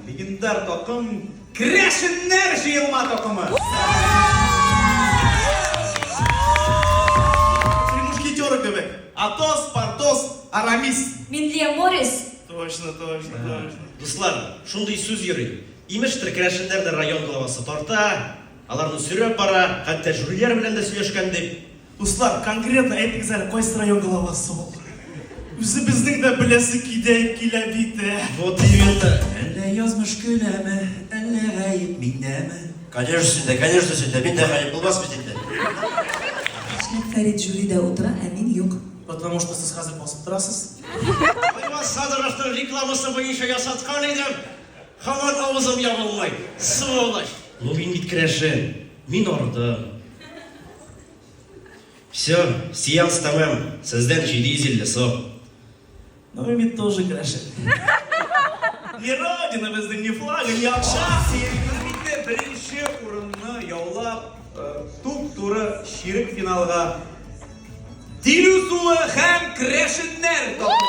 Легендар такым Крәшеннәр җыелма такымы! Три мушкетера кебек. Атос, Портос, Арамис. Минлия Морис. Точно, точно, точно. Дуслар, шундый сүз йөри. Имештер, керәшеннәрне район главасы тарта, аларны сөйрәп бара, хәтта жюриләр белән дә сөйләшкән дип. Дуслар, конкретно әйтегез әле, кайсы район главасы ул? Үзебезнең дә беләсе кидә, килә бит, ә? Вот именно! Әллә язмыш көләме, әллә гаеп миндәме? Конечно синдә, конечно синдә, миндә гаеп булмас бит инде! Нишләп Фәрит жюридә утыра, ә мин юк? Потому что сез хәзер басып торасыз. Аймаз Садыровның рекламасы буенча ясаткан идем, һаман авызым ябылмый, сволочь! Логин бит керәшен! Мин ардым. Все, сеанс тәмам. Сездән 750 сом. Ну и мне тоже гроши. Ни родина безнең, ни флага, ни акча. Сәясәтне беренче урынны яулап, туп туры ширек финалга Тилү суы һәм крэшеннәр тапты.